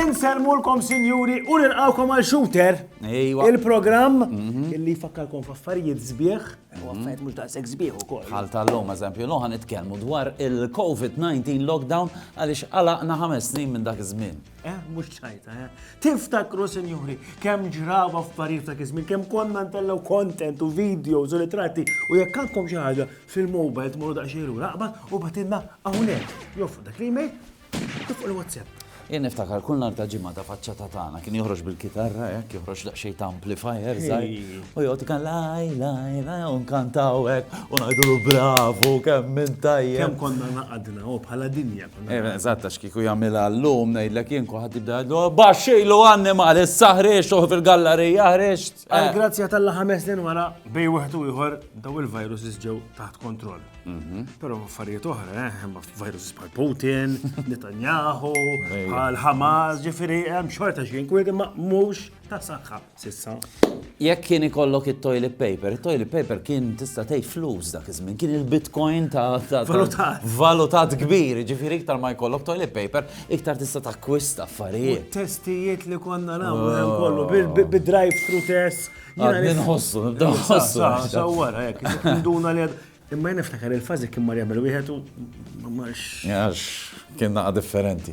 Inselmulkom sinjuri u nilqawkom għal shooter. Ejwa. Il-programm mhm. illi jfakkarkom f'affarijiet sbieħ u affarijiet mhux daqshekk sbieħ ukoll. Bħal tal-lum eżempju, lum ħan nitkellmu dwar il-COVID-19 lockdown għaliex għalaqna ħames snin minn dak iż-żmien. Eh, mux ċajta, eh. Tiftakru, senjuri, kem ġrava f'parir ta' kizmin, kem konna ntellaw kontent u videos u ritratti u jekk għandkom xi ħaġa fil-mobile tmorru daqsxejn raqba u batilna hawnhekk. Jof, dak l-email, tifq il-WhatsApp. Jien niftakar kull nar ta' ġimgħa ta' faċċa ta' tagħna kien joħroġ bil-kitarra hekk joħroġ daqsxejn ta' amplifier żgħir. U jgħod kan laj laj laj u nkantaw hekk u ngħidulu bravu kemm minn tajjeb. Kemm konna naqadna u bħala dinja. Eżatt, għax kieku jagħmilha llum ngħidlek jien kulħadd jibda jgħidlu baxxilu annimal, issa ħreġt uħ fil-gallerija ħreġt. Għall-grazzja tal-la ħames snin wara bej wieħed u ieħor daw il-viruses ġew taħt kontroll. Mhm. Però affarijiet oħra, eh, hemm viruses bħal Putin, Netanyahu, bħal Hamas, ġifieri hemm xorta xi inkwiet imma mhux ta' saħħa. S'issa. Jekk kien ikollok it-toilet paper, it-toilet paper kien tista' tgħid flus dak iż-żmien, kien il-bitcoin ta' valutat. Valutat kbir, ġifieri iktar ma jkollok toilet paper, iktar tista' takkwista affarijiet. Testijiet li konna nagħmlu hemm kollu bil-drive-thru test. Jiena nħossu, nibda nħossu. Sawwara hekk, induna li Imma niftakar il-fażi kien mar jagħmel wieħed u ma marx. Għax kien naqa' differenti.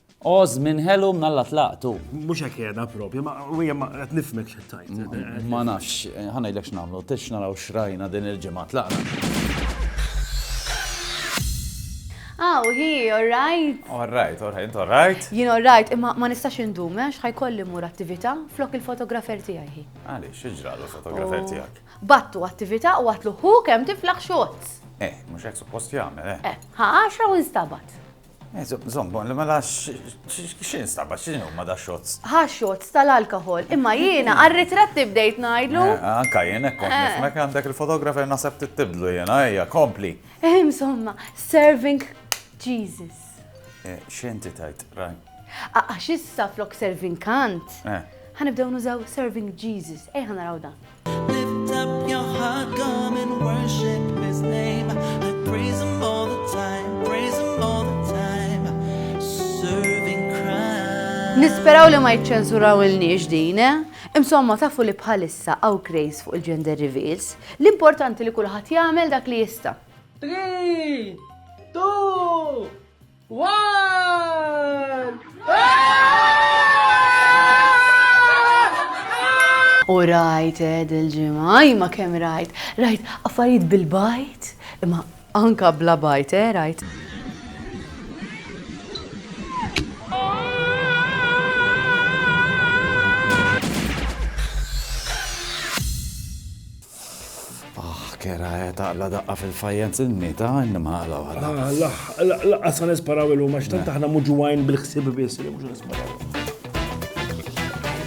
O żmien ħelu mnalla tlaqtu. Mhux hekk qiegħda propju, ma hija ma qed nifhmek xi tajt. Ma nafx, ħa ngħidlek x'nagħmlu, tix naraw x'rajna din il-ġimgħa tlaqna. Aw, hi, all right. All right, all right, all right. Jien all right, imma ma nistax indum, għax eh, ħajkolli mur attività flok il-fotografer tiegħi hi. Għaliex, x'ġralu l-fotografer oh. tiegħek? Battu attività u għatlu hu kemm tiflaħ xots. Eh, mhux hekk suppost jagħmel, eh. Eh, ħa għaxra u nstabat. Zombon, mela x'in staba, x'in huma da xots? Ha xots tal-alkohol, imma jiena għar-ritratti bdejt ngħidlu. Eh, anka jien hekk kont eh. nifmek għandek il-fotografer naħseb tittibdlu jiena, ejja, kompli. Eh, insomma, serving Jesus. X'inti tajt, raj? Għax issa flok serving kant. Ħanibdew nużaw serving Jesus, ejja naraw dan. Nisperaw li ma jċċenzurawilniex din, eh? Insomma, tafu li bħalissa għaw craze fuq il-gender reveals, l-importanti li kulħadd jagħmel dak li jista'. 3, 2, U rajt ed il-ġimgħa, imma kemm rajt, rajt affarijiet bil-bajt, imma anka bla bajt, eh, rajt. Ah, kera eh, taqla daqqa fil-fajjenz inni ta' inni maqla wara. Ah, laqqas sa nisparaw il-lum, għax tant aħna muġuwajn bil-ħsib biss, mhux nisparaw.